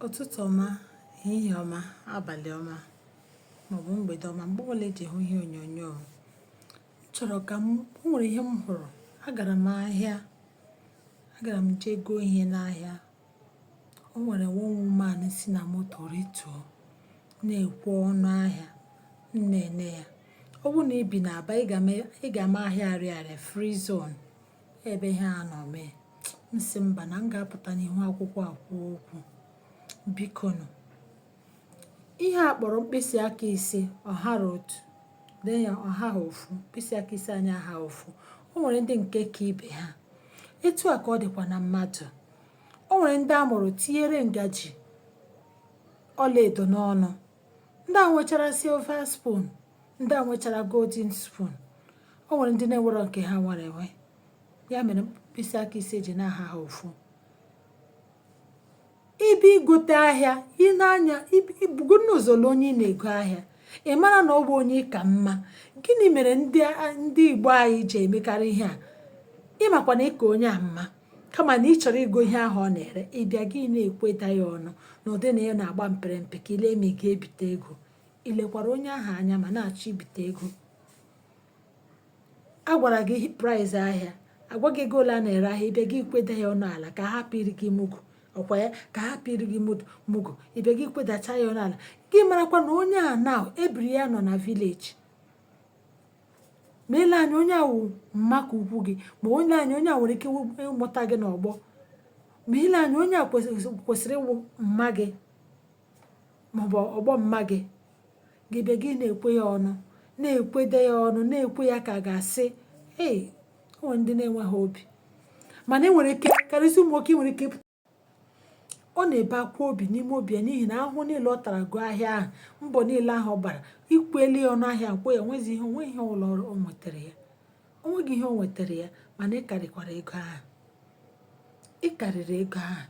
Ụtụtụ ọma, ehihie ọma, abalị ọma maọbụ mgbede ọma mgbe ọbụla eji hụ ihe onyonyo m chọrọ ka m o nwere ihe m hụrụ agara m ahịa agara m jee goo ihe n'ahịa o nwere one woman si na moto rituo na-ekwe ọnụ ahịa m na-ele ya ọ bụrụ na i bi n'Aba ị ga-ama ị ga-ama ahịa Arịarịa free zone ebe ihe a nọ mee m si mba na m ga-apụta n'ihu akwụkwọ a kwuo okwu bikonu ihe a kpọrọ mkpịsị aka ise ọ hara otu ee ọ haha ofu mkpịsị aka ise anyị ahaha ofu o nwere ndị nke ka ibe ha etu a ka ọ dịkwa na mmadụ o nwere ndị a mụrụ tinyere ngaji ọlaedo n'ọnụ ndị a nwechara silver spoon ndị a nwechara golden spoon o nwere ndị na-enwerọ nke ha nwere enwe ya mere mkpịsị aka ise ji na ahaha ofu ị bịa igote ahịa ị na-anya ibugo n'ụzọ na onye ị na-ego ahịa ị mara na ọ bụ onye ị ka mma gịnị mere ndị ndị igbo anyị ji emekarị ihe a ị makwa na ị ka onye a mma kama na ị chọrọ igo ihe ahụ ọ na-ere ị bịa gị na-ekweda ya ọnụ na ụdị na ya na-agba mpere mpe ka i lee ma ị ga-ebite ego i lekwara onye ahụ anya ma na-achọ ibite ego a gwara gị price ahịa a gwa gị ego ole a na-ere ahịa ị bịa gị kweda ya ọnụ ala ka a hapụ iri gị mugu ọ kwa ya ka a hapụ iri gị mugu ị bịa gị kwedacha ya ọnụ ala gị marakwa na onye a na ebiri ya nọ na village ma ele anya onye a wụ mma ka ukwu gị ma ele anya onye a nwere ike ịmụta gị n'ọgbọ ma ele anya onye a kwesịrị ịwụ mma gị maọbụ ọgbọ mma gị gị bịa gị na-ekwe ya ọnụ na-ekwede ya ọnụ na-ekwe ya ka a ga-asị ee o nwere ndị na-enweghị obi mana i nwere ike karịsịa ụmụ nwoke nwere ike ọ na-ebe akwa obi n'ime obi ya n'ihi na ahụhụ niile ọ tara goo ahịa ahụ mbọ niile ahụ ọ gbara i kwela ya ọnụ ahịa nkwụ ya nwezi ihe o nweghị ihe ụlọ ọrụ o nwetara ya o nweghị ihe o nwetara ya mana ị karịkwara ego ahụ ị karịrị ego ahụ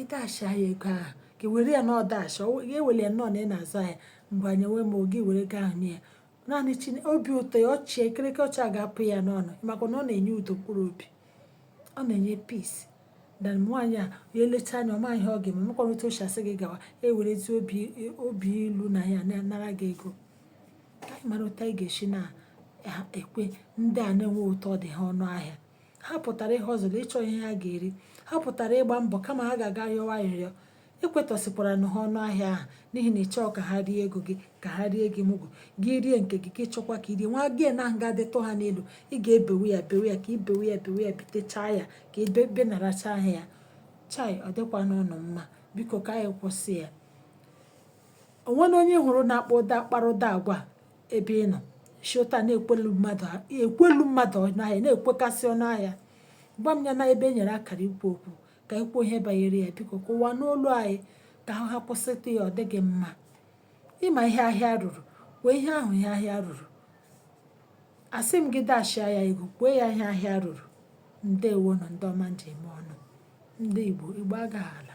ị dash ya ego ahụ ka were ya na ị dash ya e were ya nọọ na ị na-azụ ahịa mgbe anyị nwee ma oge were ego ahụ nye ya naanị chi obi ụtọ ya ọchị ekirike ọcha ga-apụ ya n'ọnụ maka na ọ na-enye udo mkpụrụ obi ọ na-enye peace na nwaanyị a ya elecha anya ọ ma ihe ọ ga-eme makwana otu o si asị gị gawa e werezi obi obi ilu na ya nara gị ego ka anyị mara otu anyị ga-esi na-ekwe ndị a na-enweghị otu ọ dị ha ọnụ ahịa ha pụtara ihe ọzọ ịchọ ihe ha ga-eri ha pụtara ịgba mbọ kama ha ga-aga yọwa arịrịọ i kwetọsịkwara na ha ọnụ ahịa ahụ n'ihi na ị chọọ ka ha rie ego gị ka ha rie gị mugu gị rie nke gị gị chọkwa ka i rie nwa gị na ahụ ga-adịtụ ha n'elu ị ga-ebewe ya bewe ya ka i bewe ya bewe ya bitechaa ya ka i benaracha ahịa ya chai ọ dịkwanụghị mma biko ka anyị kwụsị ya o nwere onye ị hụrụ na-akpa ụdị kpara ụdị agwa a ebe ị nọ shota na-ekwelu mmadụ ekwelu mmadụ ọnụ ahịa na-ekwekasị ọnụ ahịa gwa m ya na ebe e nyere akara ikwu okwu ka anyị kwuo ihe banyere ya biko ka ụwa nụ olu anyị ka ha kwụsịtụ ya ọ dịghị mma ị ma ihe ahịa ruru kwuo ihe ahụ ihe ahịa ruru asị m gị dashia ya ego kwụọ ya ihe ahịa ruru ndewo nụ ndị ọma m ji eme ọnụ ndị Igbo Igbo agaghị ala